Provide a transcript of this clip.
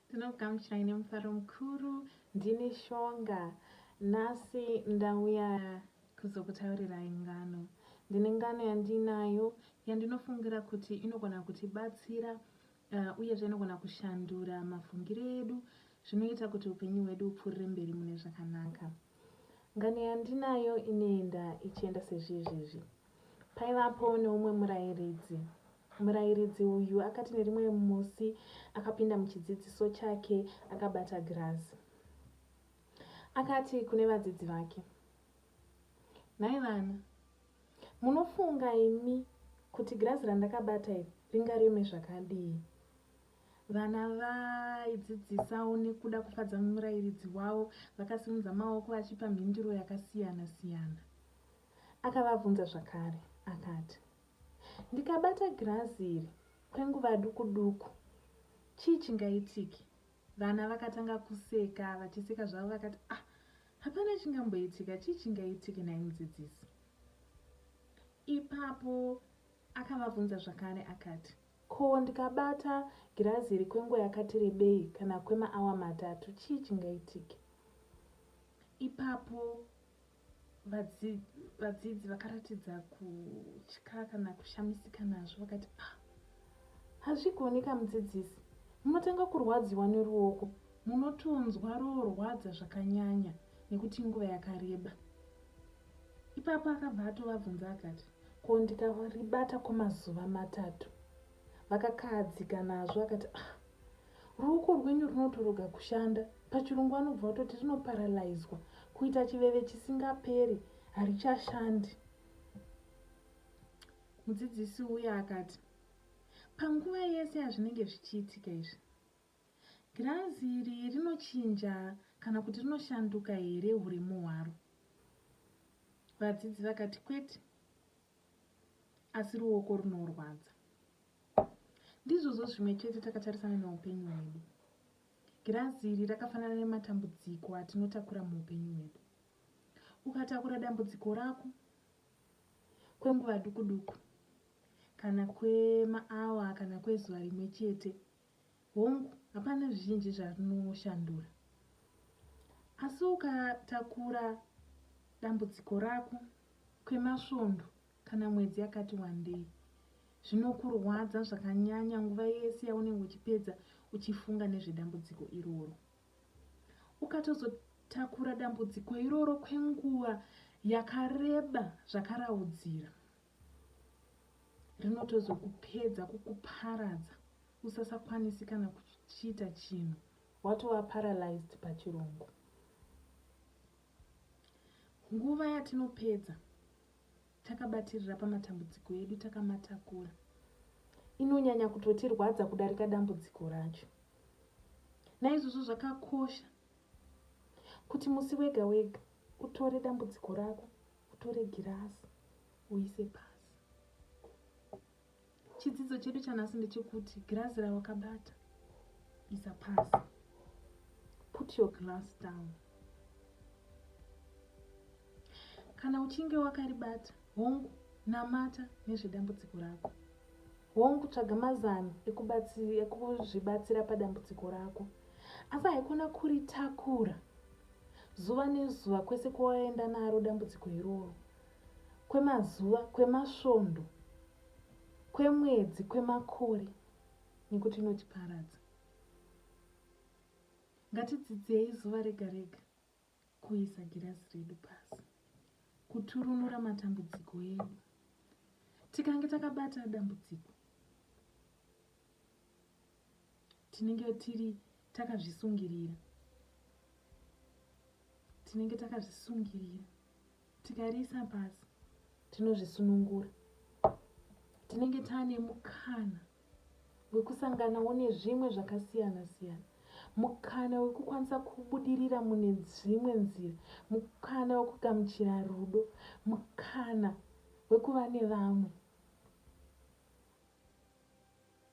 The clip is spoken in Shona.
Ndinokugamuchirai nemufaro mukuru. Ndini Shonga. Nhasi ndauya kuzokutaurirai ngano. Ndine ngano yandinayo yandinofungira kuti inogona kutibatsira uh, uyezve inogona kushandura mafungiro edu zvinoita kuti upenyu hwedu upfuurire mberi mune zvakanaka. Ngano yandinayo inoenda ichienda sezvizvizvi. Paivapo neumwe murairidzi Murairidzi uyu akati nerimwe musi akapinda muchidzidziso chake akabata girazi. Akati kune vadzidzi vake, Nhai vana, munofunga imi kuti girazi randakabata iri ringareme zvakadii? Vana vaidzidzisawo nekuda kufadza murairidzi wavo vakasimudza maoko vachipa mhinduro yakasiyana-siyana. Akavabvunza zvakare akati, Ndikabata girazi iri kwenguva duku duku, chii chingaitike? Vana vakatanga kuseka, vachiseka zvavo vakati, ah, hapana chingamboitika, chii chingaitike nhai mudzidzisi? Ipapo akavabvunza zvakare akati, ko ndikabata girazi iri kwenguva yakati rebei kana kwemaawa matatu, chii chingaitike? Ipapo vadzidzi vakaratidza kutya kana kushamisika nazvo vakati ah, hazvigoni ka mudzidzisi munotanga kurwadziwa neruoko munotonzwa roorwadza zvakanyanya nekuti inguva yakareba ipapo akabva atovabvunza akati ko ndikaribata kwemazuva matatu vakakahadzika nazvo akati ah, Ruoko rwenyu runotoroga kushanda, pachirungu anobva atoti rinoparalyswa, kuita chiveve chisingaperi, harichashandi. Mudzidzisi uya akati, panguva yese yazvinenge zvichiitika izvi, girazi iri rinochinja kana kuti rinoshanduka here uremu hwaro? Vadzidzi vakati kwete. asi ruoko runorwadza ndizvozvo zvimwe chete takatarisana neupenyu hwedu girazi iri rakafanana nematambudziko atinotakura muupenyu hwedu ukatakura dambudziko rako kwenguva duku duku kana kwemaawa kana kwezuva rimwe chete Hongu, hapana zvizhinji zvarinoshandura. Asi ukatakura dambudziko rako kwemasvondo kana mwedzi yakati wandei, zvinokurwadza zvakanyanya nguva yese yaunenge uchipedza uchifunga nezvedambudziko iroro. Ukatozotakura dambudziko iroro kwenguva yakareba zvakaraudzira, rinotozokupedza kukuparadza usasakwanisi kana kuchiita chinhu watova paralyzed pachirungu nguva yatinopedza takabatirira pamatambudziko edu takamatakura inonyanya kutotirwadza kudarika dambudziko racho naizvozvo zvakakosha kuti musi wega wega utore dambudziko rako utore girasi uise pasi chidzidzo chedu chanhasi ndechekuti girasi rawakabata isa pasi put your glass down kana uchinge wakaribata hongu namata nezvedambudziko rako hongu tsvaga mazano ekuzvibatsira padambudziko rako asi haikona kuritakura Zuva nezuva kwese kwawaenda naro dambudziko iroro. Kwemazuva, kwemasvondo, kwemwedzi, kwemakore nekuti inotiparadza. Ngatidzidzei zuva rega rega kuisa girazi redu pasi, kuturunura matambudziko edu. Tikange takabata dambudziko, tinenge tiri takazvisungirira tinenge takazvisungirira tikariisa pasi tinozvisunungura tinenge taane mukana wekusanganawo nezvimwe zvakasiyana siyana mukana wekukwanisa kubudirira mune dzimwe nzira mukana wekugamuchira rudo mukana wekuva nevamwe